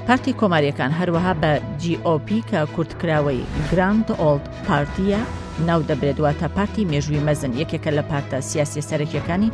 پارتی کۆماریەکان هەروەها بە GOP کە کورتکراوەی گراند ئۆلد پارتیە ناو دەبرێت واتە پارتی مێژووی مەزن یەکێکە لە پارتە سیاسی سەرەکیەکانی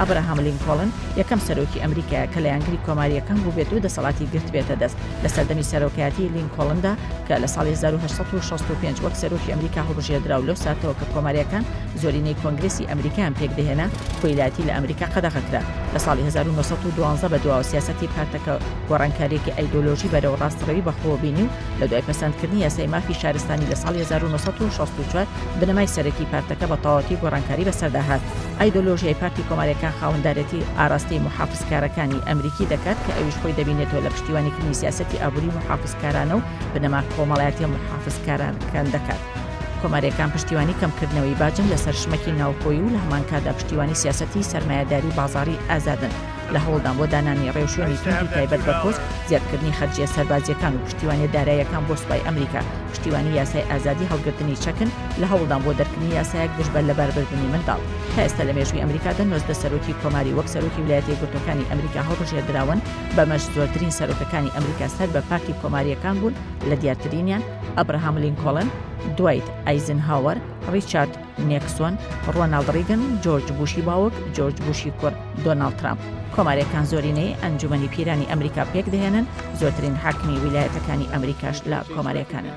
ئەبراهام لینکۆڵن یەکەم سەرۆکی ئەمریکایە کە لایەنگری کۆمارییەکان بووبێت و دەسەڵاتی گرتبێتە دەست لە سەردەمی سەرۆکایەتیی لینکۆڵندا کە لە ساڵی هەزار و هەشت سەد و شەست و پێنج وەک سەرۆکی ئەمریکا هەڵبژێردرا و لەو ساتەوە کە کۆمارییەکان زۆرینەی کۆنگرێسی ئەمریکایان پێکدەهێنا کۆیلایەتی لە ئەمریکا قەدەغە کرا لە ساڵی هەزار و نۆ سەد و دوازدە بەدواوە سیاسەتی پارتەکە گۆڕانکارییەکی ئایدۆلۆژی بەرەو ڕاستڕەوی بەخۆوە بینی و لە دوای پەسەندکردنی یاسای مافی شارستانی لە ساڵی هەزار و نۆ سەد و شەست و چوار بنەمای سەرەکی پارتەکە بە تەواوەتی گۆڕانکاری بەسەردا هات. ئایدۆلۆژیای پارتی کۆماریەکان خاوەندارێتی ئاراستەی موحافزکارەکانی ئەمریکی دەکات کە ئەویش خۆی دەبینێتەوە لە پشتیوانیکردنی سیاسەتی ئابووری موحافزکارانە و بنەما کۆمەڵایەتیە موحافزکارانکان دەکات. کۆماریەکان پشتیوانی کەمکردنەوەی باجن لەسەر شمەکی ناوخۆیی و لە هەمانکاتدا پشتیوانی سیاسەتی سەرمایەداری بازاڕی ئازادن. لە هەوڵدان بۆ دانانی ڕێوشوێنی توندی تایبەت بە کورد، زیادکردنی خەرجییە سەربازییەکان و پشتیوانییە داراییەکان بۆ سوپای ئەمریکا، پشتیوانی یاسای ئازادی هەڵگرتنی چەکن، لە هەوڵدان بۆ دەرکردنی یاسایەک دژ بە لەباربردنی منداڵ. تا ئێستا لە مێژووی ئەمریکادا نۆزدە سەرۆکی کۆماری وەک سەرۆکی ولایەتە یەکگرتووەکانی ئەمریکا هەڵبژێردراون، بەمەش زۆرترین سەرۆکەکانی ئەمریکا سەر بە پارتی کۆمارییەکان بوون، لە دیارترینیان، ئەبراهام لینکۆڵن، دوایت ئایزنهاوەر، ڕیچارد، نیکسۆن، ڕۆناڵد ڕیگن، جۆرج بوشی باوک، جۆرج بوشی کوڕ، دۆناڵد ترامپ. کۆمارێکان زۆرینەی ئەنجومەنی پیرانی ئەمریکا پێک دەهێنن، زۆرترین حاکمی ویلایەتەکانی ئەمریکاش لە کۆمارەکانن.